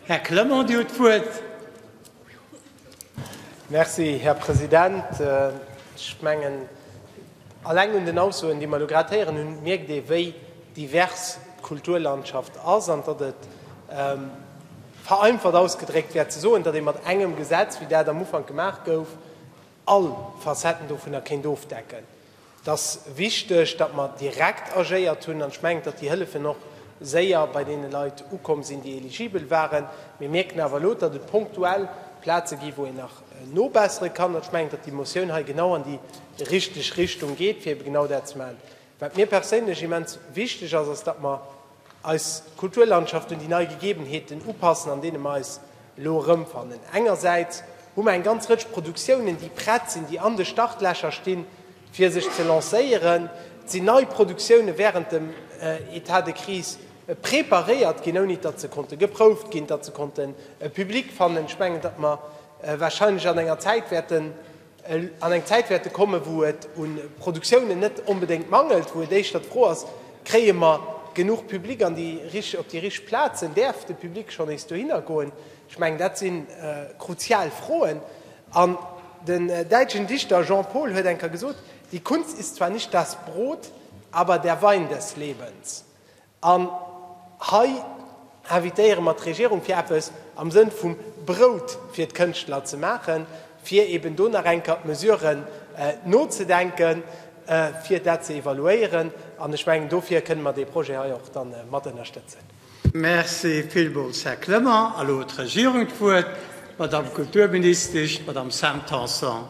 Här Clement, Dir hutt d'Wuert. Merci, Här President. Ech mengen, eleng un den Aussoen, déi mer elo grad héieren hunn, mierkt ee wéi divers d'Kulturlandschaft ass an datt et, vereinfacht ausgedréckt, wär ze soen, datt ee mat engem Gesetz, wéi dat am Ufank gemaach gouf, all Facetten dovunner kéint ofdecken. Et ass wichteg, datt mer direkt agéiert hunn, an ech mengen, datt déi Hëllefen och séier bei deene Leit ukomm sinn, déi eligibel waren. Mir mierken awer elo, datt et punktuell Plaze ginn, wou een nach nobessere kann, an ech mengen, datt déi Motioun hei genau an déi richteg Richtung geet, fir ebe genau dat ze maachen. Wat mir perséinlech immens wichteg ass, ass, datt mer eis Kulturlandschaft un déi nei Gegebenheeten upassen, an deene mer eis elo erëmfannen. Engersäits hu mer eng ganz Rëtsch Produktiounen, déi prett sinn, déi an de Startlächer stinn, fir sech ze lancéieren. Et sinn nei Produktiounen wärend dem État de crise preparéiert ginn, ouni datt se konnte geprouft ginn, datt se konnten e Public fannen. Ech mengen, datt mer warscheinlech an enger Zäit wäerten, An eng Zäit wäerte kommen, wou et u Produktiounen net onbedéngt mangelt, wou et éischter d'Fro ass, Kréie mer genuch Public an déi rich op déi rich Plazen? Däerf de Public schonn nees dohinner goen? Ech mengen, dat si kruzial Froen. An den däitschen Dichter Jean Paul huet eng Kéier gesot, Die Kunst ist zwar nicht das Brot, aber der Wein des Lebens. An hei invitéiere mer d'Regierung, fir eppes am Sënn vum Brout fir d'Kënschtler ze maachen, fir eben do nach eng Kéier d'Mesuren nozedenken, fir dat ze evaluéieren. An ech mengen, dofir kënnen mer dee Projet hei och dann mat ënnerstëtzen. Merci villmools, Här Clement. Elo huet d'Regierung d'Wuert, d'Madame Kulturministesch, d'Madame Sam Tanson.